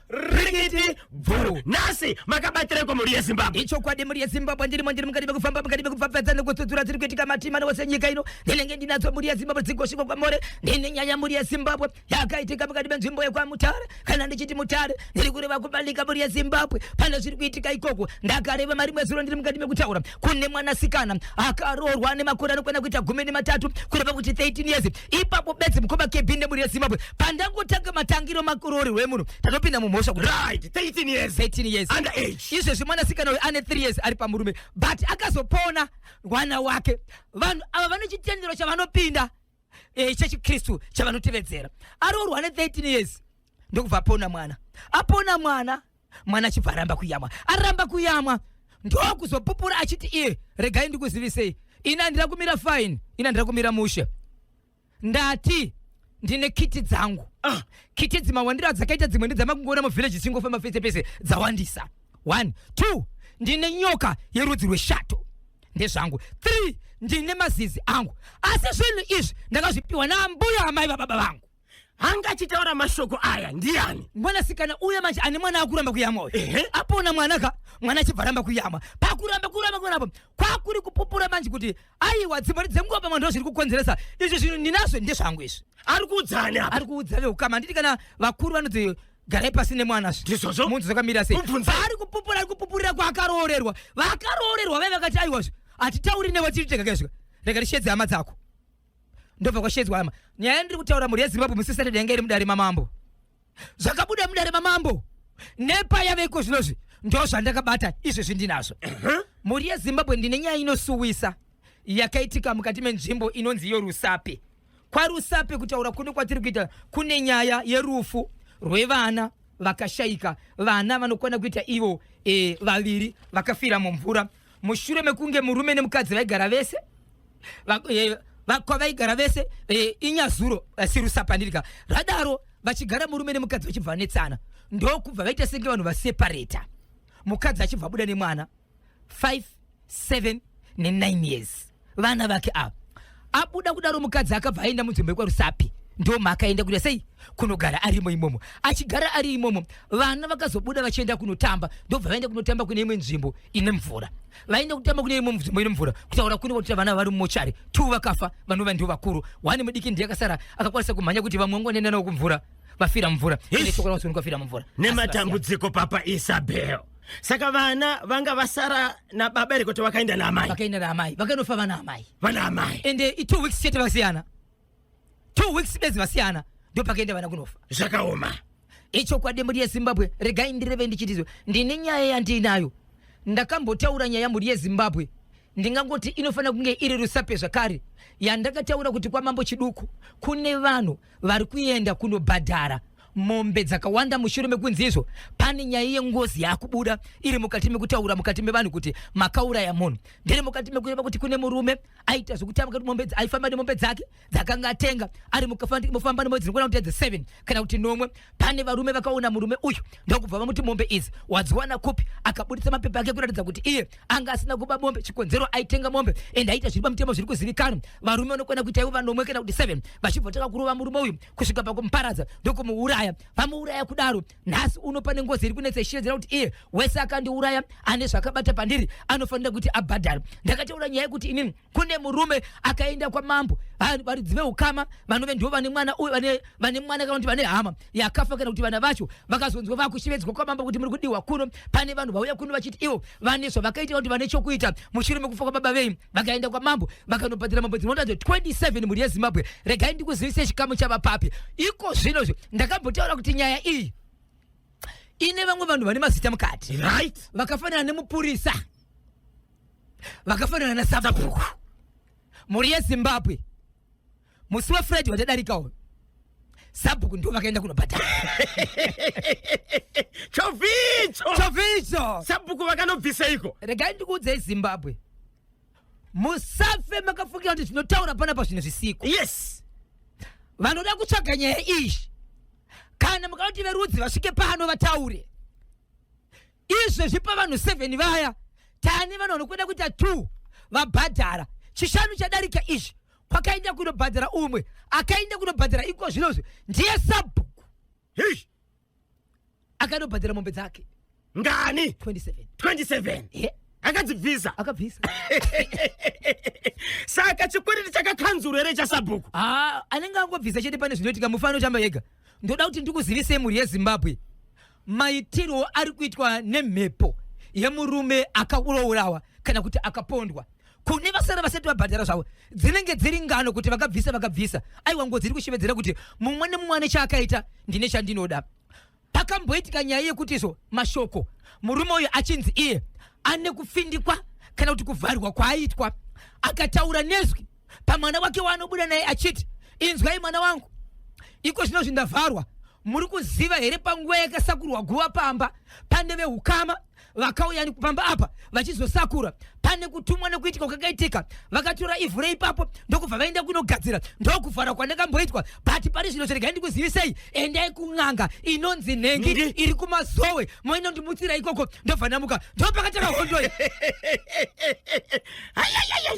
ringiti bvuu nhasi makabatireko mhuri yezimbabwe ichokwadi mhuri yezimbabwe ndirimo ndiri mukati mekufamba mukati mekupfapfadza nekutsudzura dziri kuitika matima newose nyika ino ndinenge ndinadzo mhuri yezimbabwe dzigosvikwa kwamore ndine nyaya mhuri yezimbabwe yakaitika mukati menzvimbo yekwamutare kana ndichiti mutare ndiri kureva kubalika mhuri yezimbabwe pane zviri kuitika ikoko ndakareva mari mwezuro ndiri mukati mekutaura kune mwanasikana akaroorwa ane makore anokwana kuita gumi nematatu kureva kuti 13 years ipapo bedzi mukoma kb nemhuri yezimbabwe pandangotanga matangiro makurori rwemunhu tatopinda mumhosva kuti right 13 years 13 years under age izvezvi mwanasikana uyu ane 3 years ari pamurume but akazopona mwana wake vanhu ava vane chitendero chavanopinda eh, chechikristu chavanotevedzera aroorwa ane 13 years ndokubva apona mwana apona mwana mwana achibva aramba kuyamwa aramba kuyamwa ndokuzopupura achiti iye regai ndikuzivisei ini andira kumira fine ini andira kumira mushe ndati ndine kiti dzangu ah. kiti dzimawandiro dzakaita dzimwe ndedzamakungoona muvhillaji dzingofamba pese pese dzawandisa one two ndine nyoka yerudzi rweshato ndezvangu three ndine mazizi angu asi zvinhu izvi ndakazvipiwa naambuya amai vababa vangu anga achitaura mashoko aya ndiani mwanasikana uye manje ane mwana akuramba kuyamwa uyu Ehe. apona mwana ka mwana achibva ramba kuyamwa pakuramba kuramba kuramba apo kwakuri kupupura manje kuti aiwa dzimari dzenguva pamwe ndo zviri kukonzeresa izvi zvinhu ndinazvo ndezvangu izvi ari kuudzani apa ari kuudza veukama handiti kana vakuru vanoti garai pasi nemwana zvi Ndizvozvo. munzi zvakamira sei Mubvunza. ari kupupura ari kupupurira kwaakaroorerwa vakaroorerwa vaive vakati aiwa zvi hatitauri newe tiri tega kezvika rega tichedze hama dzako ndobva kwashedzwa hama nyaya ndiri kutaura mhuri yezimbabwe musi saturday yanga iri mudare mamambo zvakabuda mudare mamambo nepa yaveko zvinozvi ndo zvandakabata izvezvi ndinazvo mhuri yezimbabwe ndine nyaya inosuwisa yakaitika mukati menzvimbo inonzi yorusape kwarusape kutaura kuno kwatiri kuita kune nyaya yerufu rwevana vakashaika vana vanokwana kuita ivo e, vaviri vakafira mumvura mushure mekunge murume nemukadzi vaigara vese eh, vakwa vaigara vese eh, inyazuro eh, sirusapandirika radaro vachigara murume nemukadzi vachibva vanetsana ndokubva vaita senge vanhu vaseparata mukadzi achibva abuda nemwana 5 7 ne9 years vana vake ava abuda kudaro mukadzi akabva aenda munzvimbo yekwarusapi ndoma akaenda kuita sei kunogara arimo imomo achigara ari imomo vana vakazobuda vachienda kunotamba ndobva vaenda kunotamba kune imwe nzvimbo ine mvura vaenda kutamba kune imwe nzvimbo ine mvura kutaura kune kwatira vana vari mumochari two vakafa vanova ndio vakuru one mudiki ndiye akasara akakwanisa kumhanya kuti vamwe vangoenda navo kumvura vafira mumvura Yes. Ende chokwadi vanhu vanofira mumvura nematambudziko papa isabel saka vana vanga vasara nababa here kuti vakaenda naamai vakaenda naamai vakanofa vana amai vana amai and uh, two weeks chete vakasiyana two weeks bedzi vasiyana ndo pakaenda vana kunofa zvakaoma ichokwadi mhuri yezimbabwe regai ndireve ndichitizwe ndine nyaya yandiinayo ndakambotaura nyaya mhuri yezimbabwe ndingangoti inofanira kunge iri rusape zvakare yandakataura kuti kwamambo chiduku kune vanhu vari kuenda kunobhadhara mombe dzakawanda mushure mekunzi izvo pane nyaya yengozi yakubuda iri mukati mekutaura mukati mevanhu kuti makauraya munhu ndiri mukati mekureva kuti kune murume aita zvekutamba mombe aifamba nemombe dzake dzakanga atenga ari mufamba nemwedzi rinogona kuti edze seven kana kuti nomwe pane varume vakaona murume uyu ndokubva vamuti mombe idzi wadziwana kupi akaburitsa mapepa ake kuratidza kuti iye anga asina kuba mombe chikonzero aitenga mombe and aita zviri pamutemo zviri kuzivikanwa varume vanokwana kuita ivo vanomwe kana kuti seven vachibva taka kurova murume uyu kusvika pakumuparadza ndokumuuraya vamuuraya kudaro nhasi uno pane ngozi iri kunetsa ichitedzera kuti iye wese akandiuraya ane zvakabata pandiri anofanira kuti abhadhara ndakataura nyaya yekuti inini kune murume akaenda kwamambo varidzi veukama vanove ndivo vane mwana uyu vane mwana kana kuti vane hama yakafa kana kuti vana vacho vakazonzwa vakushevedzwa kwamambo kuti muri kudiwa kuno pane vanhu vauya kuno vachiti ivo vane zvavakaita kuti vane chokuita mushure mekufa kwababa venyu vakaenda kwamambo vakanobhadhira mambo dzinota 27 mhuri yezimbabwe regai ndikuzivise chikamu chavapapi iko zvinozvo ndakambotaura kuti nyaya iyi ine vamwe vanhu vane mazita mukati right vakafanana nemupurisa vakafanana nasabhuku mhuri yezimbabwe musi wefriday watadarika uyu sabhuku ndo vakaenda kunobhadhara chovicho chovicho sabhuku vakanobviseiko regai ndikuudzei zimbabwe musafe makafungira kuti zvinotaura panapa zvinhu zvisiko yes vanoda kutsvaga nyaya iyi kana mukanoti verudzi vasvike pano vataure izvezvi pavanhu 7 vaya tane vanhu vanokwenda kuita 2 vabhadhara chishanu chadarika izvi kwakaenda kunobhadhara umwe akaenda kunobhadhara iko zvinozvi ndiye sabhuku Hish. akanobhadhara mombe dzake ngani 27 27 Ye, akadzibvisa akabvisa saka chikwereti chakakanzuru here chasabhuku Ah, anenge angobvisa chete pane zvinoitika mufana uchamba yega ndoda kuti ndikuzivisei mhuri yezimbabwe maitirwo ari kuitwa nemhepo yemurume akaurourawa kana kuti akapondwa kune vasara vasati vabhadhara zvavo dzinenge dziri ngano kuti vakabvisa vakabvisa aiwa ngo dziri kushevedzera kuti mumwe nemumwe ane chaakaita ndine chandinoda pakamboitika nyaya yekuti izvo mashoko murume uyu achinzi iye ane kufindikwa kana kuti kuvharwa kwaaitwa akataura nezwi pamwana wake waanobuda naye achiti inzwai mwana wangu iko zvino zvindavharwa muri kuziva here panguva yakasakurwa guva pamba pane veukama vakauya pamba apa vachizosakura pane kutumwa nekuitika kwakaitika vakatora ivhu reipapo ndokubva vaenda kunogadzira ndokuvhara kwandakamboitwa but pari zvino chiregai ndikuzivisei endai kun'anga inonzi nhengi iri kumazowe moinondimutsira ikoko ndobva ndamuka ndopakatanga hondoi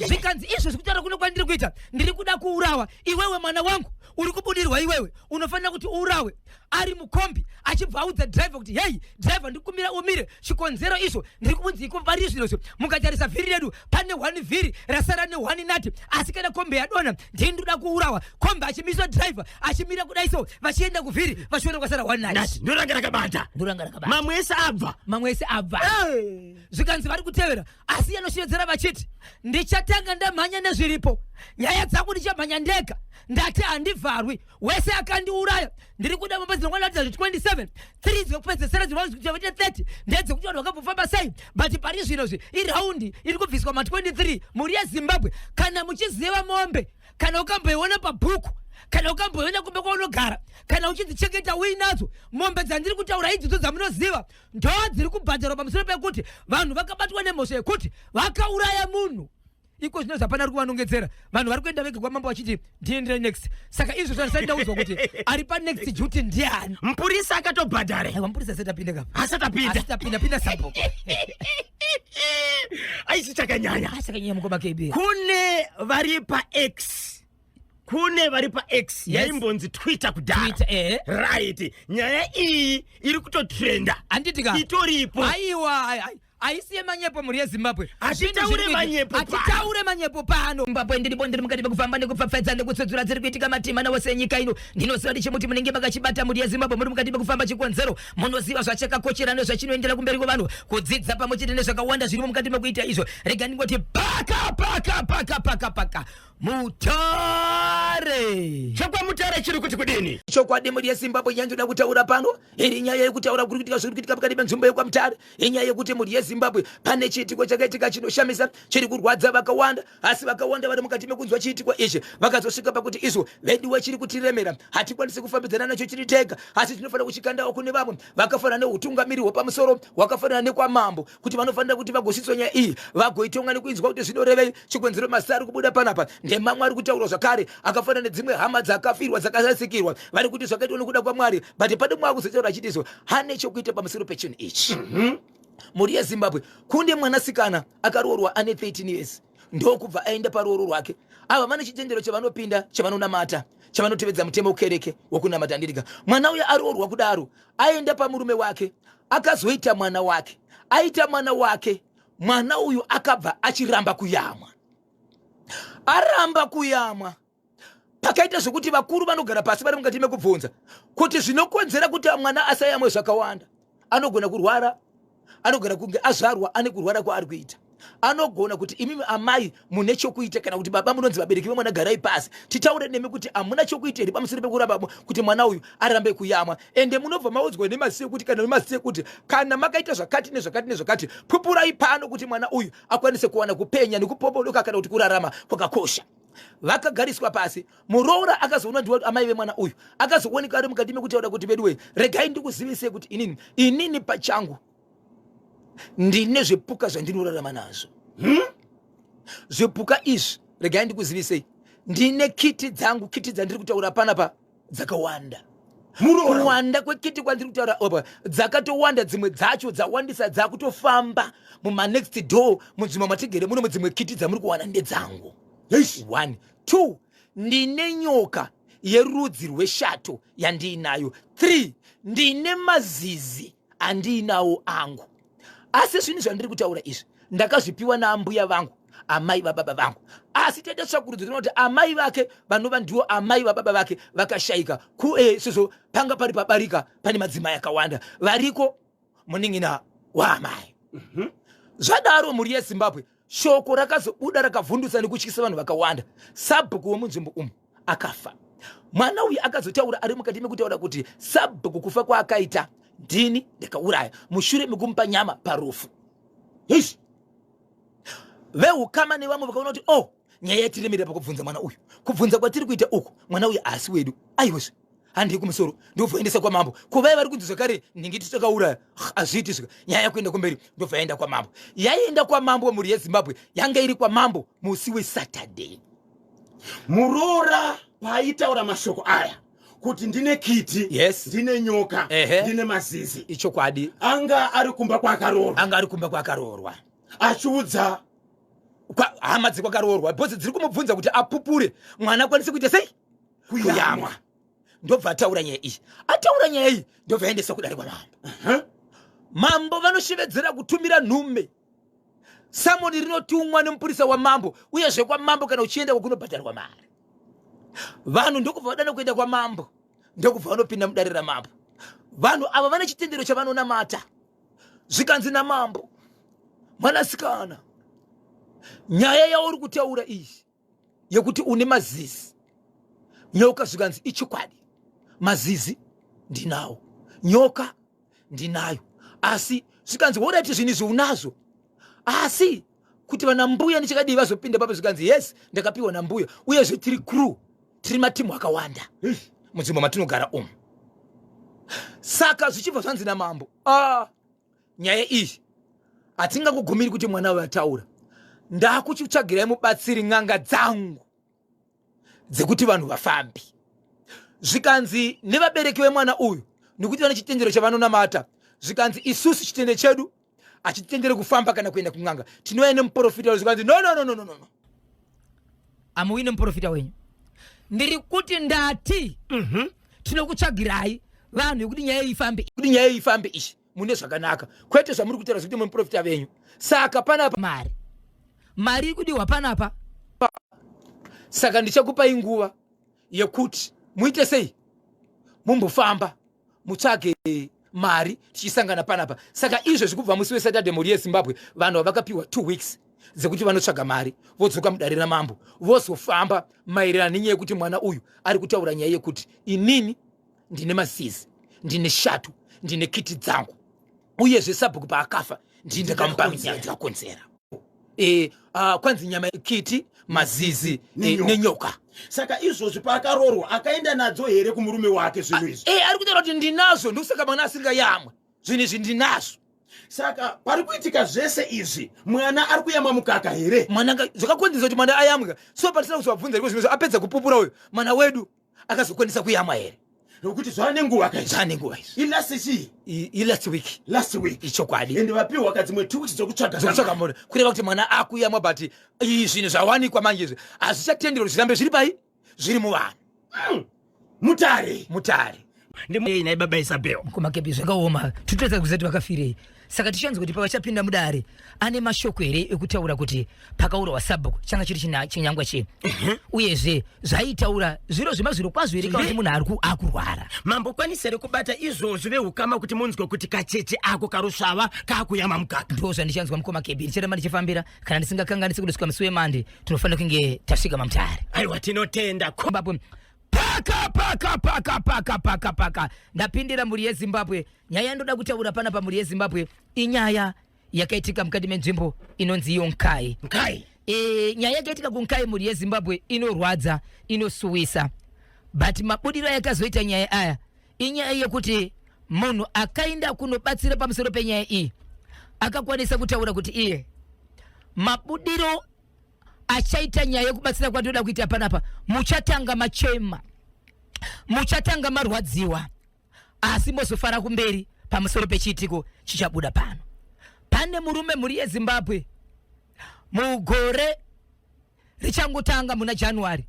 zvikanzi izvo zvikutaura kuno kwandiri kuita ndiri kuda kuurawa iwewe mwana wangu uri kubudirwa iwewe unofanira kuti uurawe ari mukombi achibva audza driver kuti heyi driver ndikumbira umire chikonzero izvo ndiri kubunzi ikumbari zviro izvo mukatarisa vhiri redu pane one vhiri rasara ne one nati asi kana kombi yadona ndini ndoda kuurawa kombi achimiswa driver achimira kudai so vachienda kuvhiri vachiona kwasara one nati ndoranga rakabata ndoranga rakabata mamwe ese abva mamwe ese abva zvikanzi vari kutevera asi iye anoshevedzera vachiti ndichatanga ndamhanya nezviripo nyaya dzangu ndichamhanya ndega ndati handivharwi wese akandiuraya ndiri kuda mumba dzinokwanatira zve 27 3 dzekupedzesera dzinovaita 30 ndedzekuti vanhu vakambofamba sei but pari zvino zve iraundi iri kubviswa ma 23 mhuri yezimbabwe kana muchiziva mombe kana ukamboiona pabhuku kana ukamboiona kumba kwaunogara kana uchidzichengeta uinadzo mombe dzandiri kutaura idzodzo dzamunoziva ndo dziri kubhadharwa pamusoro pekuti vanhu vakabatwa nemhosva yekuti vakauraya munhu iko zvino zvapana ari kuvanongedzera vanhu vari kuenda vege kwamambo vachiti ndiendere next saka izvo zvandisati ndaudzwa kuti ari panext duty ndiani mupurisa akatobhadhara aiwa mupurisa asati apinde kapa asati apinda asati apinda pinda sabhuku aisi chakanyanya asakanyanya mukoma kb kune vari pax kune vari pax yaimbonzi twitter kudhara eh. right nyaya iyi iri kutotrenda anditika itoripo aiwa haisi yemanyepo mhuri yezimbabwe hatitaure manyepo hatitaure manyepo pano zimbabwe ndiri bondiri mukati mekufamba nekupfapfaidza nekutsudzura dziri kuitika matima nawose enyika ino ndinoziva ndichimuti munenge makachibata mhuri yezimbabwe muri mukati mekufamba chikonzero munoziva zvachakakochera nezvachinoendera kumberi kwevanhu kudzidza pamwe chete nezvakawanda zvirimo mukati mekuita izvo rega ndingoti paka paka paka paka paka mutare chokwamutare chiri kuti kudini chokwadi mhuri yezimbabwe nyaya ndoda kutaura pano iri nyaya yekutaura kuri kuitika zviri kuitika pakati penzvimbo yekwamutare inyaya yekuti mhuri yezimbabwe pane chiitiko chakaitika chinoshamisa chiri kurwadza vakawanda asi vakawanda vari mukati mekunzwa chiitiko ichi vakazosvika pakuti izvo veduwe chiri kutiremera hatikwanisi kufambidzana nacho chiri tega asi tinofanira kuchikandawo kune vamwe vakafanana neutungamiri hwepamusoro hwakafanana nekwamambo kuti vanofanira kuti vagosiswa nyaya iyi vagoitonga nekuinzwa kuti zvinorevei chikonzero masi ari kubuda panapa ndemamwe ari kutaurwa zvakare akafanana nedzimwe hama dzakafirwa dzakarasikirwa vari kuti zvakaitwa nekuda kwamwari but pane mwa kuzotaura achitiso hane chokuita pamusoro pechinhu ichi mhm. mhuri yezimbabwe kunde mwanasikana akaroorwa ane 13 years ndokubva aenda paruoro rwake ava vane chitendero chavanopinda chavanonamata chavanotevedza mutemo wekereke wokunamata ndirika mwana uya aroorwa kudaro aenda pamurume wake akazoita mwana wake aita mwana wake mwana uyu akabva achiramba kuyamwa aramba kuyamwa pakaita zvekuti vakuru vanogara pasi vari mukati mekubvunza kuti zvinokonzera kuti mwana asayamwe zvakawanda anogona kurwara anogona kunge azvarwa ane kurwara kwaari kuita anogona kuti imimi amai mune chokuita kana kuti baba munonzi vabereki vemwana garai pasi titaure nemi kuti hamuna chokuita here pamusoro pekuramba kuti mwana uyu arambe kuyamwa ende munobva maudzwa nemasekuti kana nemasekuti kana makaita zvakati nezvakati nezvakati pupurai pano kuti mwana uyu akwanise kuwana kupenya nekupopodoka kana kuti kurarama kwakakosha vakagariswa pasi muroora akazoona ndiwa kuti amai vemwana uyu akazooneka ari mukati mekutaura kuti veduwe regai ndikuzivisei kuti inini inini pachangu ndine zvipuka zvandinorarama nazvo hmm? zvipuka izvi regai ndikuzivisei ndine kiti dzangu kiti dzandiri kutaura panapa dzakawanda kuwanda kwekiti kwandiri kutaura apa dzakatowanda dzimwe dzacho dzawandisa dzakutofamba mumanext door munzvimbo matigere muno mudzimwe kiti dzamuri kuwana ndedzangu one two ndine nyoka yerudzi rweshato yandiinayo three ndine mazizi andiinawo angu asi zvinhu zvandiri kutaura izvi ndakazvipiwa naambuya vangu amai vababa vangu asi tete tsvakurudzo tinoti amai vake vanova ndiwo amai vababa vake vakashaika kue sizvo panga pari pabarika pane madzimai akawanda variko muningina waamai mhm. zvadaro mhuri yezimbabwe shoko rakazobuda rakavhundutsa nekutyisa vanhu vakawanda sabhuku wemunzvimbo umu akafa mwana uyu akazotaura ari mukati mekutaura kuti sabhuku kufa kwaakaita ndini ndakauraya mushure mekumupa nyama parufu ish veukama nevamwe vakaona kuti o oh, nyaya yatiremerera pakubvunza mwana uyu kubvunza kwatiri kuita uku mwana uyu haasi wedu aiwezve handei kumusoro ndobva aendesa kwamambo ko vaya vari kunzi zvakare ndinge tichakauraya hazviiti zvika nyaya yakuenda kumberi ndobva yaenda kwamambo yaienda kwamambo mhuri yezimbabwe yanga iri kwamambo musi wesaturday muroora paaitaura mashoko aya kuti ndine kiti yes. ndine nyoka Ehe. ndine mazizi ichokwadi anga ari kumba kwaakaroorwa anga ari kumba kwaakaroorwa achiudza hama dzekwaakaroorwa bhozi dziri kumubvunza kuti apupure mwana akwanise kuita sei kuyamwa ndobva ataura nyaya iyi ataura nyaya iyi ndobva aendesa kudare kwamambo uh -huh. mambo vanoshevedzera kutumira nhume samoni rinotumwa nemupurisa wamambo uye zvekwamambo kana uchienda kwakunobhadharwa mari vanhu ndokubva vadana kuenda kwamambo ndokubva vanopinda mudare ramambo vanhu ava vane chitendero chavanonamata zvikanzi namambo mwanasikana nyaya yauri kutaura iyi yekuti une mazizi nyoka zvikanzi ichokwadi mazizi ndinawo nyoka ndinayo asi zvikanzi woraiti zvinhu izvi unazvo asi kuti vana mbuya ndichakadii vazopinda papo zvikanzi yes ndakapiwa nambuya uyezve tiri crew tiri matimu akawanda mudzimba matinogara umu saka zvichibva zvanzi namambo ah. nyaya iyi hatingakugumiri kuti mwana uyo ataura ndakuchitsvagirai mubatsiri n'anga dzangu dzekuti vanhu vafambi zvikanzi nevabereki vemwana uyu nekuti vane chitendero chavanonamata zvikanzi isusu chitende chedu hachitendere kufamba kana kuenda kun'anga tinouya nemuporofita zvikanzi no no no no no no amuuyi nemuprofita wenyu ndiri kuti ndati mhm. tinokutsvagirai vanhu vekuti nyaya ifambe kuti nyaya ifambe ichi mune zvakanaka kwete zvamuri kutaura zvekuti muprofita venyu saka panapa mari mari iri kudiwa panapa saka ndichakupai nguva yekuti muite sei mumbofamba mutsvage mari tichisangana panapa saka izvezvi kubva musi wesaturday mhuri yezimbabwe vanhu vavakapiwa two weeks dzekuti vanotsvaga mari vodzoka mudare ramambo vozofamba maererano nenyaya yekuti mwana uyu ari kutaura nyaya yekuti inini ndine mazizi ndine shato ndine kiti dzangu uyezve sabhuku paakafa ndii ndakamupa nyaya ndikakonzera e, a, kwanzi nyama kiti mazizi e, Nenyoka. nenyoka saka izvozvi paakaroorwa akaenda nadzo here kumurume wake zvinhu izvi e, ari kutaura kuti ndinazvo ndokusaka mwana asingayamwe zvinhu izvi ndinazvo saka pari kuitika zvese izvi mwana ari kuyamwa mukaka here mwana nga- zvakakonzeresa kuti mwana ayamwe ka so patisina kuzovabvunza riko zvimwe zvo apedza kupupura uyo mwana wedu akazokwanisa kuyamwa here nokuti zvaane nguva zvaane nguva ilast chii ilast week last week ichokwadi ende vapiwa ka dzimwe two weeks dzokutsvaga dzokutsvaga mhuri kureva kuti mwana akuyamwa but zvinhu zvawanikwa manje izvi hazvichatenderwa zvirambe zviri pai zviri muvanhu hmm. mutare mutare ndimuyei naye baba isabel kumakepi zvakaoma titoedza kuzati vakafirei saka tichanzi kuti pavachapinda mudare ane mashoko here ekutaura kuti pakaurawa sabhuku changa chiri china- chinyangwa chei uyezve zvaitaura zviro zvemazviro kwazvo here kana kuti munhu ari ku- akurwara mambo kwanisa here kubata izvozvi vehukama kuti munzwe kuti kacheche ako karusvava kakuyama mukaka ndo zvandichanzwa mukoma kebi ndichiramba ndichifambira kana ndisingakanganisi kundosvika musi wemande tinofanira kunge tasvika mamutare aiwa tinotenda ko- kombapo paka paka paka paka paka paka ndapindira mhuri yezimbabwe nyaya yandoda kutaura pana pamhuri yezimbabwe inyaya yakaitika mukati menzvimbo inonzi iyo nkai nkai e, nyaya yakaitika kunkai mhuri yezimbabwe inorwadza inosuwisa but mabudiro ayakazoita nyaya aya inyaya yekuti munhu akaenda kunobatsira pamusoro penyaya iyi akakwanisa kutaura kuti iye mabudiro achaita nyaya yekubatsira kwatoda kuita panapa muchatanga machema muchatanga marwadziwa asi mozofara kumberi pamusoro pechiitiko chichabuda pano pane murume mhuri yezimbabwe mugore richangotanga muna january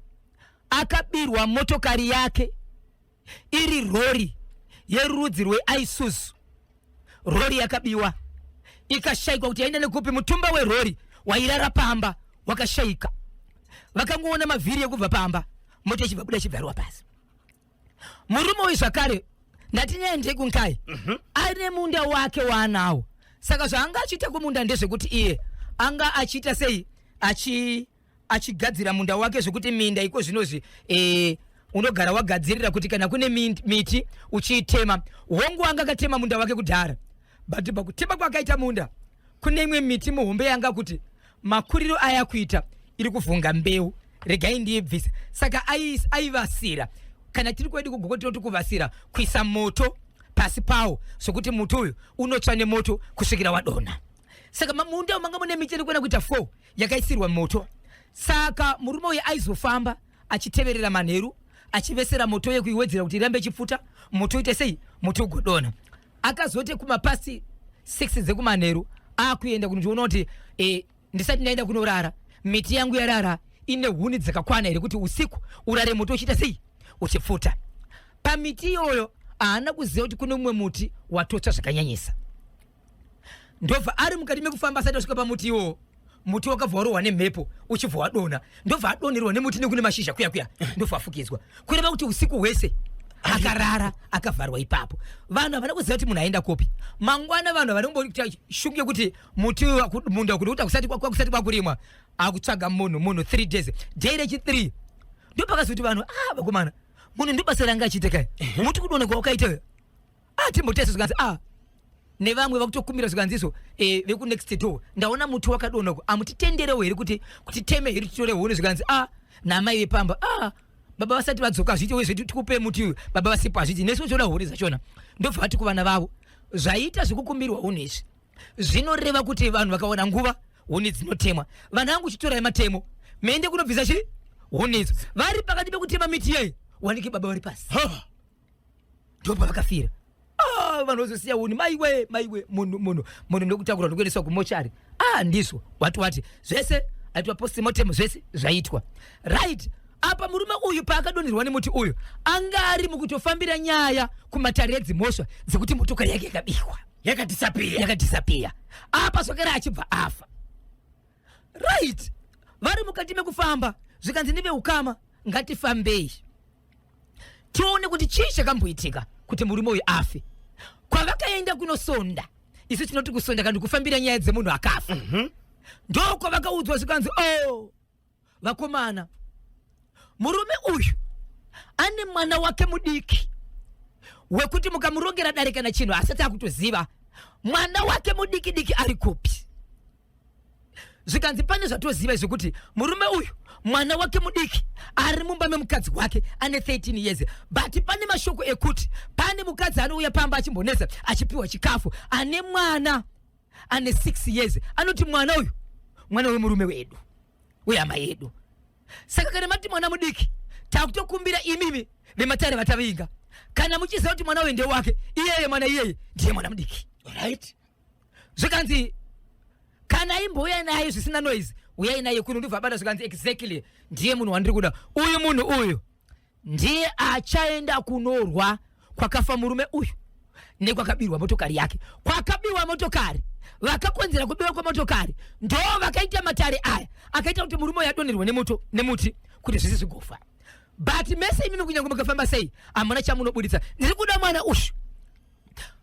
akabirwa motokari yake iri rori yerudzi rweisuzu rori yakabiwa ikashaikwa kuti yaenda nekupi mutumba werori wairara pamba wakashaika vakangoona mavhiri yekubva pamba moto ichibva buda ichibvariwa pasi murume uyu zvakare ndati nyaya ndekunkai mm -hmm. ane munda wake waanawo saka zvaanga achiita kumunda ndezvekuti iye anga achiita sei achi achigadzira munda wake zvekuti minda iko zvinozvi eh, unogara wagadzirira kuti kana kune miti uchiitema hongu anga akatema munda wake kudhara but pakutema kwakaita munda kune imwe miti muhombe yanga kuti makuriro aya kuita iri kuvhunga mbeu regai ndiibvisa saka aivasira kana tiri kwedu kugoko tinoti kuvasira kuisa moto pasi pawo sokuti muti uyu unotsva nemoto kusvikira wadonha saka mamunda manga mune miti iri kuenda kuita four yakaisirwa moto saka murume uyu aizofamba achiteverera manheru achivesera moto uye kuiwedzera kuti irambe ichipfuta moto uite sei moto ugodona akazote kumapasi 6 dzekumanheru akuenda kunondiona kuti e, ndisati ndaenda kunorara miti yangu yarara ine huni dzakakwana here kuti usiku urare moto uchiita sei uchipfuta pamiti iyoyo haana kuziva kuti kune mumwe muti watotsva zvakanyanyisa ndobva ari mukati mekufamba asati asvika pamuti iwowo muti wakabva warohwa nemhepo uchibva wadonha ndobva adonerwa nemuti nekune mashizha kuya kuya ndobva afukidzwa kureva kuti usiku hwese akarara akavharwa ipapo vanhu havana kuziva kuti munhu aenda kupi mangwana vanhu havana kumboita shuku yekuti muti munda kuti uta kusati kusati kwakurimwa akutsvaga munhu munhu three days day rechithree ndopakazoti vanhu ah vakomana munhu ndibasa ranga achiita kai muti kudonekwa wakaita atimbotesa zvikanzi a ah, nevamwe vakutokumbira zvikanziso e, eh, vekunext door ndaona muti wakadona ku amutitenderewo here kuti kutiteme here titore huni zvikanzi a ah, namai vepamba a ah, baba vasati vadzoka hazviti we zvedu tikupe muti uyu baba vasipo hazviti nesu toda huni zvachona ndobva vati kuvana vavo zvaita zvekukumbirwa huni izvi zvinoreva kuti vanhu vakaona nguva huni dzinotemwa vanhu vangu chitorai matemo mende kunobvisa chii huni idzo vari pakati pekutema miti yei wanike baba vari pasi ndopavakafira ah, vanhu vazosiya uni maiwe maiwe munhu munhu munhu ndokutakura ndokuendeswa kumochari ah ndizvo wati wati zvese aitwa postmortem zvese zvaitwa right apa murume uyu paakadonherwa nemuti uyu anga ari mukutofambira nyaya kumatare edzimhosva dzekuti motokari yake yakabihwa yakadhisapiya yakadhisapiya apa zvakare achibva afa right vari mukati mekufamba zvikanzi neveukama ngatifambei tione kuti chii chakamboitika kuti murume uyu afe kwavakaenda kunosonda isu tinoti kusonda kana kufambira nyaya dzemunhu akafa mm -hmm. ndokwavakaudzwa zvikanzi o oh, vakomana murume uyu ane mwana wake mudiki wekuti mukamurongera dare kana chinhu asati akutoziva mwana wake mudiki diki ari kupi zvikanzi pane zvatoziva izvo kuti murume uyu mwana wake mudiki ari mumba memukadzi wake ane 13 years but pane mashoko ekuti pane mukadzi anouya pamba achimbonetsa achipiwa chikafu ane mwana ane 6 years anoti mwana uyu mwana wemurume wedu wehama yedu saka kana mati mwana mudiki takutokumbira imimi vematare vatavinga kana muchiziva kuti mwana uyu ndewake iyeye mwana iyeye ndiye mwana mudiki right zvikanzi kana imbouya naye zvisina noise uyai naye kuno ndibva abata zvikanzi exactly ndiye munhu wandiri kuda uyu munhu uyu ndiye achaenda kunorwa kwakafa murume uyu nekwakabirwa motokari yake kwakabirwa motokari vakakonzera kubiwa kwemotokari ndo vakaita matare aya akaita kuti murume uyu adonherwe nemoto nemuti kuti zvisi zvigofa but mese imimi kunyange mukafamba sei hamuna chamunobuditsa ndiri kuda mwana ushu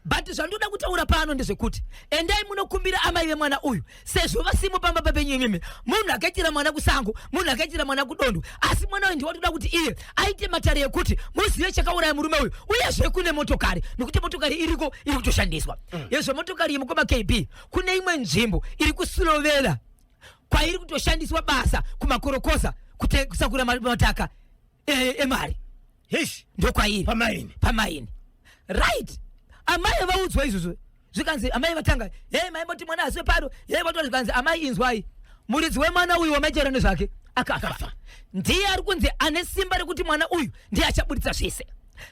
but zvandoda kutaura pano ndezvekuti endai munokumbira amai vemwana uyu sezvo vasimo pamba papenyu imimi munhu akaitira mwana kusango munhu akaitira mwana kudondo asi mwana uyu ndiwatoda kuti iye aite matare ekuti muzive chakauraya murume uyu uyezve kune motokari nekuti motokari iriko iri kutoshandiswa mm. yezve motokari yemukoma kb kune imwe nzvimbo iri kusurovera kwairi kutoshandiswa basa kumakorokosa kusakura mataka e, emari yes ndokwairi pamaini pamaini right amai vaudzwa izvozvo zvikanzi amai vatanga hei mai moti mwana aswe paro hei vato zvikanzi amai inzwai muridzi wemwana uyu wamaichera nezvake akafa ndiye ari kunzi ane simba rekuti mwana uyu ndiye achaburitsa zvese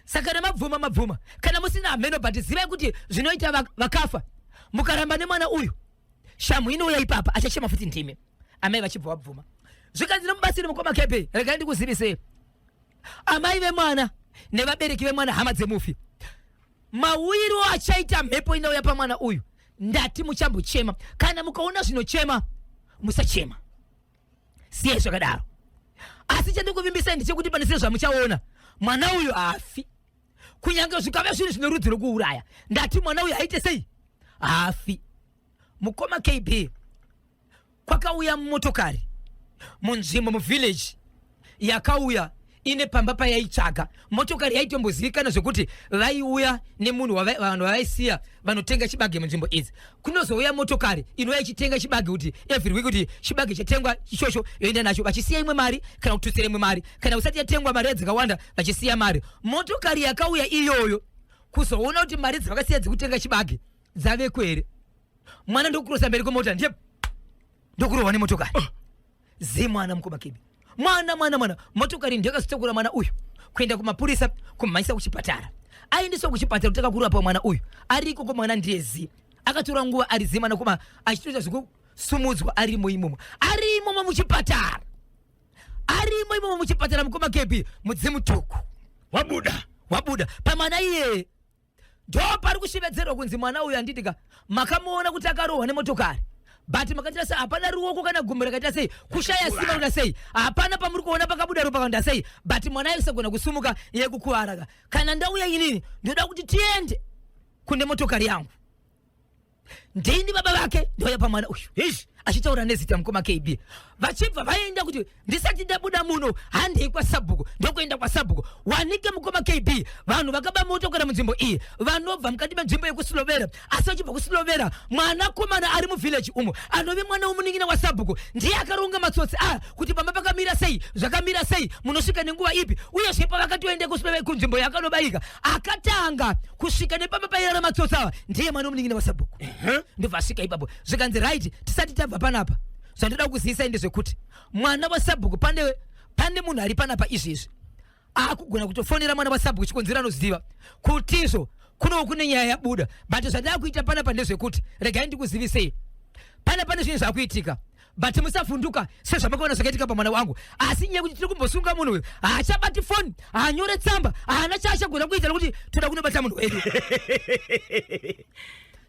saka nemabvuma mabvuma kana musina hameno but zivai kuti zvinoita vakafa mukaramba nemwana uyu shamu inouya ipapa achachema futi ndimi amai vachibva vabvuma zvikanzi nemubatsiri mukoma kepe regai ndikuzivisei amai vemwana nevabereki vemwana hama dzemufi mawiro achaita mhepo inouya pamwana uyu ndati muchambochema kana mukaona zvinochema musachema siyai zvakadaro asi chandikuvimbisai ndichekuti pane sire zvamuchaona mwana uyu haafi kunyange zvikave zvinhu zvine rudzi rwekuuraya ndati mwana uyu aite sei haafi mukoma kb kwakauya motokari munzvimbo muvillage yakauya ine pamba payaitsvaga motokari yaitombozivikanwa zvekuti vaiuya nemunhu wava- vanhu vavaisiya vanotenga chibage munzvimbo idzi kunozouya motokari inouya ichitenga chibage kuti every week kuti chibage chatengwa ichocho yoenda nacho vachisiya imwe mari kana kututsira imwe mari kana kusati yatengwa mari dzakawanda vachisiya mari motokari yakauya iyoyo kuzoona kuti mari dzavakasiya dzekutenga chibage dzaveko here mwana ndokurosa mberi kwemota ndiye ndokurohwa nemotokari ah. zemwana mukoma kebi mwana mwana mwana motokari ndiyo yakazotokura mwana uyu kuenda kumapurisa kumhanyisa kuchipatara aendeswa kuchipatara kutanga kurapwa mwana uyu ari ikoko mwana ndiye zi akatora nguva ari zi mwana kuma achitoita zvekusumudzwa arimo imomo ari imomo muchipatara ari imo imomo muchipatara mukoma kebi mudzimu tuku wabuda wabuda pamwana iyeye ndo pari kushevedzerwa kunzi mwana uyu anditi ka makamuona kuti akarohwa nemotokari but makaita sei hapana ruoko kana gumbo rakaita sei kushaya simba kuda sei hapana pamuri kuona pakabuda ropa kanda sei but mwana aisagona kusumuka yekukuvara ka kana ndauya inini ndoda kuti tiende kune motokari yangu ndini baba vake ndouya pamwana uyu ish achitaura nezita mukoma kb vachibva vaenda kuti ndisati ndabuda muno handei kwasabhuku ndokuenda kwasabhuku wanike mukoma kb vanhu vakaba motokora munzvimbo iyi vanobva mukati menzvimbo yekusilovera asi vachibva kusilovera mwanakomana ari muvhileji umo anove mwana womunin'ina wasabhuku ndiye akaronga matsotsi aya kuti pamba pakamira sei zvakamira sei munosvika nenguva ipi uyezve pavakatoenda kunzvimbo yakanobayika akatanga kusvika nepamba pairara matsotsi ava ndiye mwana omunin'ina wasabhuku ndobva asvika ipapo zvikanzi right tisati tabva panapa zvandoda kuzivisa ende zvekuti mwana wasabhuku pane pane munhu ari panapa izvezvi akugona kutofonera mwana wasabhuku chikonzero anoziva kutizvo kuno kune nyaya yabuda but zvandava kuita pana pa ndezvekuti regai ndikuzivisei pana pane zvinhu zvakuitika but musavhunduka sezvamakaona zvakaitika pamwana wangu asi nyaya kuti tiri kumbosunga munhu uyu haachabati foni haanyore tsamba haana chaachagona kuita nokuti toda kunobata munhu wedu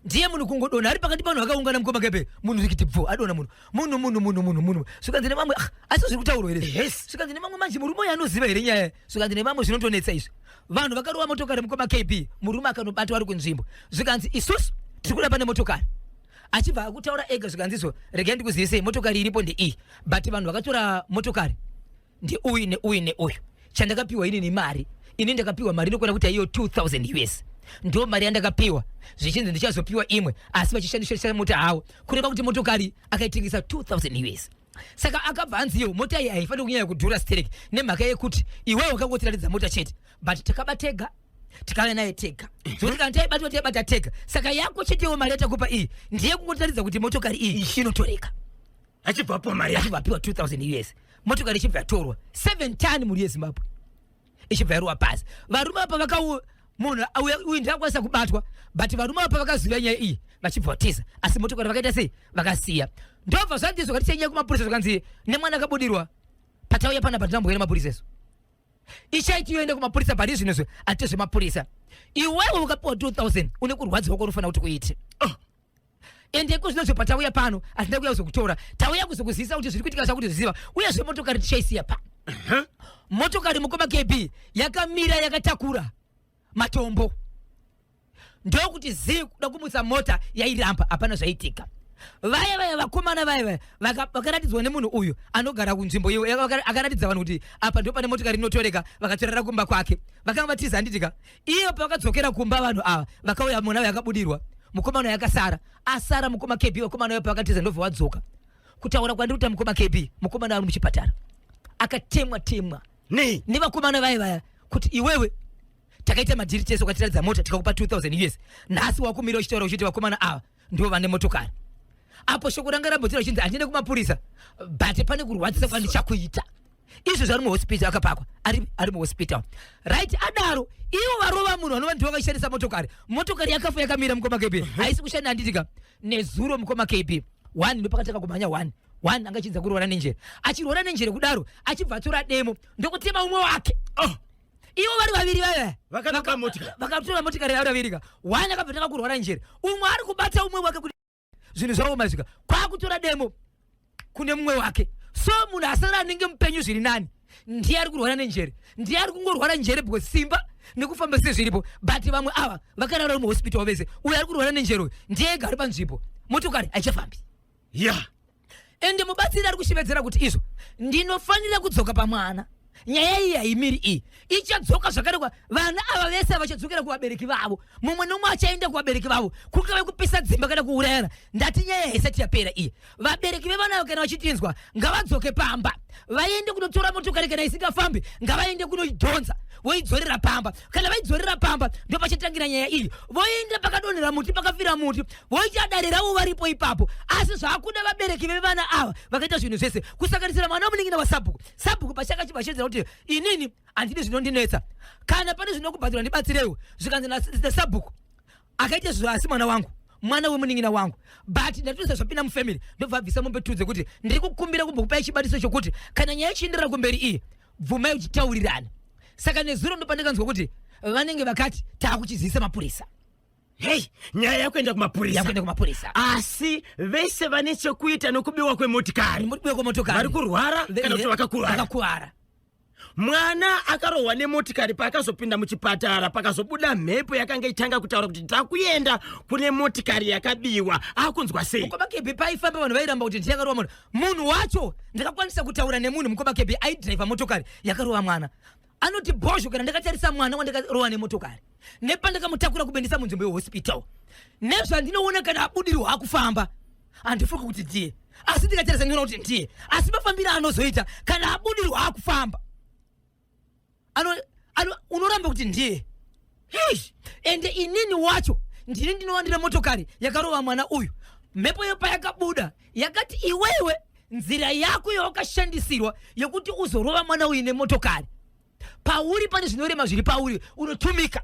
ndiye munhu kungodona ari pakati panhu akaungana mukoma kepe munhu rikiti bvu adona munhu munhu munhu munhu munhu munhu zvikanzi nevamwe ah, asi zviri kutaurwa here yes zvikanzi nevamwe manje murume uyo anoziva here nyaya zvikanzi nevamwe zvinotonetsa izvi vanhu vakarova motokari mukoma kb murume akanobatwa ari kunzvimbo zvikanzi isusu tiri kuda pane motokari achibva akutaura ega zvikanzi izvo regai ndikuzivisei motokari iripo ndeiyi but vanhu vakatora motokari ndeuyu neuyu neuyu chandakapiwa ini nemari ini ndakapiwa mari inokwana kuti aiyo 2000 us ndo mari yandakapiwa zvichinzi ndichazopiwa imwe asi vachishandishaisa mota hawo kureva kuti motokari akaitengesa 2000 us saka akabva anzi iyo mota iyi haifaniri kunyanya kudhura sterek nemhaka yekuti iwewo wakangotiratidza mota chete but takaba tega tikave naye tega zvekuti kana taibatwa taibata tega saka yako chetewo mari yatakupa iyi ndiye kungotiratidza kuti motokari iyi inotoreka achibvapo mari achibva apiwa 2000 us motokari ichibva yatorwa 7 ton mhuri yezimbabwe ichibva yaruwa pasi varume apa vakau munhu uyu ndakwanisa kubatwa but varume apa vakaziva nyaya iyi vachibva vatiza asi motokari vakaita sei vakasiya ndobva zvandizo kati chenyaya kumapurisa zvakanzi nemwana akabudirwa patauya pana patinambuya nemapurisa isu ichaiti yoende kumapurisa pari zvino zve ati zvemapurisa iwewe ukapiwa 2000 une kurwadziwa kwaunofana kuti kuite oh. ende iko zvino zvopa tauya pano hazina kuya kuzokutora tauya kuzokuzivisa kuti zviri kuitika chakuti zviziva uye zve motokari tichaisiya pa motokari mukoma kb yakamira yakatakura matombo ndokuti zii kuda kumutsa mota yairamba hapana zvaitika vaya vaya vakomana vaya vaya vakaratidzwa nemunhu uyu anogara kunzvimbo iyo akaratidza vanhu kuti apa ndipo pane motokari inotoreka vakatorera kumba kwake vakanga vatiza handitika Iye pakadzokera kumba vanhu ava vakauya mwana uyu akabudirwa mukomana uyu akasara asara mukoma KB vakomana uyu pakatiza ndobva wadzoka kutaura kwandiri kuti mukoma KB mukomana ari muchipatara akatemwa temwa nei nevakomana vaye vaya kuti iwewe takaita madhiri tese ukatiratidza mota tikakupa 2000 us nhasi wakumira uchitaura uchiti vakomana ava ndivo vane motokari apo shoko ranga rabhodzera chinzi handiende kumapurisa but pane kurwadzisa kwandichakuita izvo zvari muhospital akapakwa ari, ari muhospital right adaro ivo varova munhu vanova ndivo vakashandisa motokari motokari yakafa yakamira mukoma kb haisi kushanda handitika nezuro mukoma kb one ndopakatanga kumhanya one one anga achinza kuroora nenjere achiroora nenjere kudaro achibva atora demo ndokutema umwe wake oh. ivo vari vaviri vaya vakanoka motikari vakatora motikari yavo vavirika wani akabvetanga kurwara njere umwe ari kubata umwe wake kuti zvinhu zvavo mazvika kwakutora demo kune mumwe wake so munhu asara anenge mupenyu zviri nani ndiye ari kurwara nenjere ndiye ari kungorwara njere bcause simba nekufamba sezviripo but vamwe ava vakarara uri muhospital vese uyo ari kurwara nenjere uyo ndiye ega ari panzvimbo motokari haichafambi ya yeah. ende mubatsiri ari kushevedzera kuti izvo ndinofanira kudzoka pamwana nyaya iyi haimiri iyi ichadzoka zvakare kwa vana ava vese vachadzokera kuvabereki vavo mumwe nomwe achaenda kuvabereki vavo kungave kupisa dzimba kana kuurayana ndati nyaya haisati yapera iyi vabereki vevana ava kana vachitinzwa ngavadzoke pamba vaende kunotora motokari kana isingafambi ngavaende kunoidhonza voidzorera pamba kana vaidzorera pamba ndopachatangira nyaya iyi voenda pakadonhera muti pakafira muti voita dare ravo varipo ipapo asi zvakuda vabereki vevana ava vakaita zvinhu zvese kusanganisira mwana wamuningina wasabhuku sabhuku pachakachibashedzera kuti inini handidi zvinondinetsa kana pane zvinokubhadhura ndibatsireiwo zvikanzi nasabhuku akaita zvo asi mwana wangu mwana wemuningina wangu but ndatoisa zvapinda mufamily ndobva abvisa mombe tudze kuti ndiri kukumbira kumbokupai chibatiso chokuti kana nyaya ichienderera kumberi iyi bvumai uchitaurirana saka nezuro ndopandikanzwa kuti vanenge vakati taakuchizivisa mapurisa hei nyaya yakuenda kumapurisa yakuenda kumapurisa asi vese vane chekuita nokubiwa kwemotikari mukubiwa kwemotokari vari kurwara kana kuti vakakuvara vakakuvara mwana akarohwa nemotikari paakazopinda muchipatara pakazobuda mhepo yakanga itanga kutaura kuti takuenda kune motikari yakabiwa akunzwa sei mukoma kebi paifamba vanhu vairamba kuti ndichakarova munhu munhu wacho ndakakwanisa kutaura nemunhu mukoma kebi aidriva motokari yakarova mwana anoti bhozho kana ndakatarisa mwana wandakarova nemotokari nepandakamutakura kubendesa munzvimbo yehospital nezvandinoona kana abudirwa akufamba handifungi kuti ndiye asi ndikatarisa ndinoona kuti ndiye asi mafambiro anozoita kana abudirwa akufamba ano, ano unoramba kuti ndiye Eish! ende inini wacho ndini ndinowandira motokari yakarova mwana uyu mhepo iyo payakabuda yakati iwewe nzira yako yawakashandisirwa yekuti uzorova mwana uyu nemotokari pauri pane zvinorema zviri pauri unotumika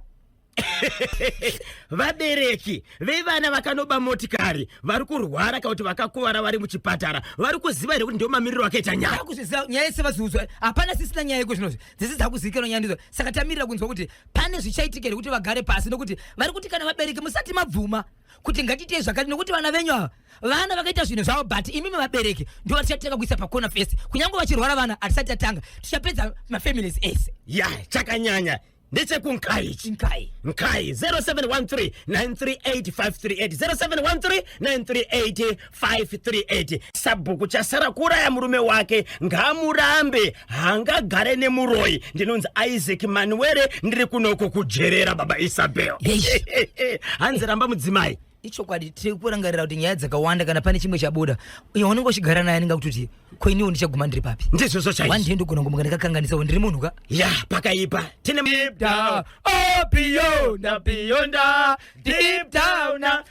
vabereki vevana vakanoba motikari vari kurwara kana kuti vakakuvara vari muchipatara vari kuziva here kuti ndiwo mamiriro akaita nyaya Ndakuzviziva nyaya yese vaziudzwa hapana sisina nyaya yeko zvinozvi dzese dzakuzivikanwa nyaya ndidzo saka tamirira kunzwa kuti pane zvichaitika here kuti vagare pasi nokuti vari kuti kana vabereki musati mabvuma kuti ngatiitei zvakati nokuti vana venyu ava vana vakaita zvinhu zvavo but imimi vabereki ndo vatichatanga kuisa pakona fese kunyange vachirwara vana hatisati tatanga tichapedza mafamilies ese ya chakanyanya ndechekunkai ichi nkai nkai 0713 938 538 0713 938 538 sabhuku chasara kuuraya murume wake ngaamurambe haangagare nemuroyi ndinonzi isaac manuwere ndiri kunoko kujerera baba isabel hanzi ramba mudzimai ichokwadi tiri kurangarira kuti nyaya dzakawanda kana pane chimwe chabuda uyo unenge uchigara naye anenge kutoti ko iniwo ndichaguma ndiri papi ndizvozvo chaizvo one day ndogona kumuka ndakakanganisawo ndiri munhu ka ya pakaipa tine deep down oh beyond beyond deep down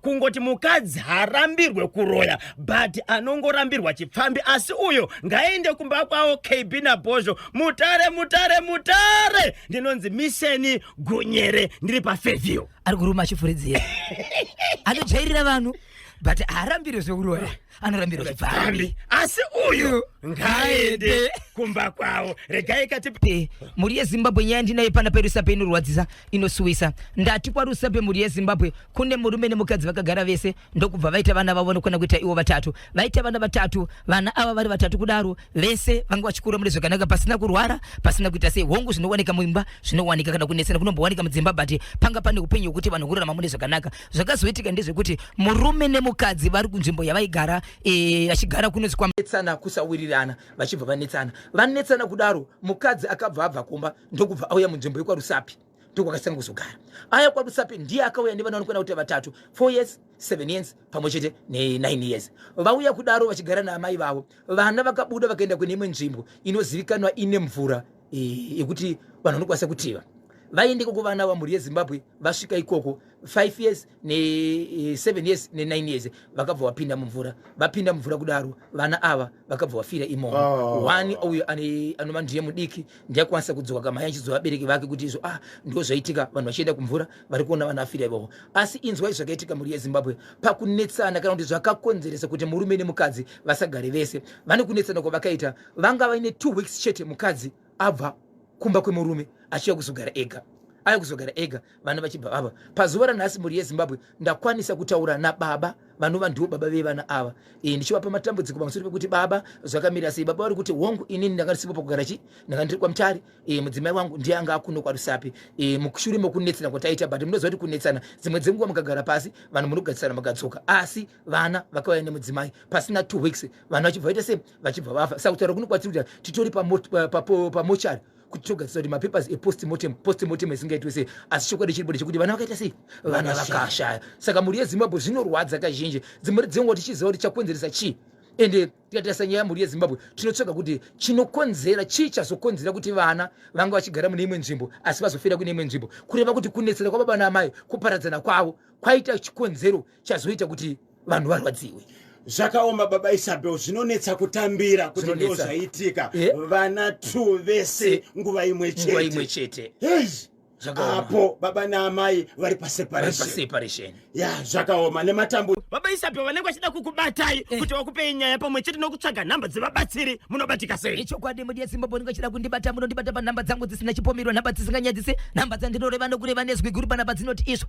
kungoti mukadzi harambirwe kuroya but anongorambirwa chipfambi asi uyo ngaende kumba kwavo kb nabhozho mutare mutare mutare ndinonzi miseni gunyere ndiri pafeview ari kuruma achifuridzira anojairira vanhu but haarambirwe zvekuroya anorambirwa zvipfambi asi uyu ngaende kumba kwavo regai kati eh, mhuri yezimbabwe nyaya ndinaye pana perusape inorwadzisa inosuwisa ndati kwarusape mhuri yezimbabwe kune murume nemukadzi vakagara vese ndokubva vaita vana vavo nokona kuita ivo vatatu vaita vana vatatu vana ava vari vatatu kudaro vese vanga vachikura mune zvakanaka pasina kurwara pasina kuita sei hongu zvinowanika muimba zvinowanika kana kunesana kunombowanika mudzimba but panga pane upenyu hwekuti vanhu kurarama mune zvakanaka zvakazoitika ndezvekuti murume nemukadzi vari kunzvimbo yavaigara eh, vachigara kunonzi kwanetsana kusawirirana vachibva vanetsana vanetsana kudaro mukadzi akabva abva kumba ndokubva auya munzvimbo yekwarusapi ndokwakasanga kuzogara aya kwarusapi ndiye akauya nevana vanokwana kuti vatatu four years seven years pamwe chete nenine years vauya kudaro vachigara naamai vavo vana vakabuda vakaenda kune imwe nzvimbo inozivikanwa ine mvura yekuti vanhu vanokwanisa kutiva vaende koko vana vamhuri yezimbabwe vasvika ikoko 5 years ne7 eh, years ne9 years vakabva vapinda mumvura vapinda mumvura kudaro vana ava vakabva vafira imomo oh. one uyo anova ndiye mudiki ndiyakwanisa kudzoka kamai achizoa vabereki vake kuti izvo ah ndo zvaitika vanhu vachienda kumvura vari kuona vana vafira ivovo asi inzwai zvakaitika mhuri yezimbabwe pakunetsana kana kuti zvakakonzeresa kuti murume nemukadzi vasagare vese vane kunetsana kwavakaita vanga vaine two weeks chete mukadzi abva kumba kwemurume achiya kuzogara ega aya kuzogara ega vana vachibva vava pazuva ranhasi mhuri yezimbabwe ndakwanisa kutaura nababa vanova ndiwo baba vevana ava e, ndichivapa matambudziko pamusoro pekuti baba zvakamira sei baba vari kuti hongu inini ndanga ndisipo pakugara chi ndanga ndiri kwamutari e, mudzimai wangu ndiye anga akuno kwarusapi e, mushure mokunetsana kwataita but munoziva kuti kunetsana dzimwe dzenguva mukagara pasi vanhu munogarisana makadzoka asi vana vakauya nemudzimai pasina two weeks vanhu vachibva vaita sei vachibva vafa saka kutaura kuno kwatsiri kuti titori pamochari kuti togadzisa kuti mapapers epostmortem postmortem isingaitwe sei asi chokwadi chiripo ndechekuti vana vakaita sei vana vakashaya saka mhuri yezimbabwe zvinorwadza kazhinji dzimhuri dzenguva tichiziva kuti chakonzeresa chii ende tikatarisa nyaya yamhuri yezimbabwe tinotsvaga kuti chinokonzera chii chazokonzera kuti vana vanga vachigara mune imwe nzvimbo asi vazofira kune imwe nzvimbo kureva kuti kunetsera kwababa naamai kuparadzana kwavo kwaita chikonzero chazoita kuti vanhu varwadziwe zvakaoma baba isabel zvinonetsa kutambira kuti ndo zvaitika eh? vana t vese eh? nguva imwe cheteimwe chete apo baba naamai vari paseparation ya zvakaoma nematambuzo baba isabel vanenge vachida kukubatai eh. kuti vakupei nyaya pamwe chete nokutsvaga nhamba dzevabatsiri munobatika sei ichokwadi mudi yesimba bonenge vachida kundibata munondibata panhamba dzangu dzisina chipomirwa nhamba dzisinganyadzise nhamba dzandinoreva nokureva nezwi guru panhamba dzinoti iswa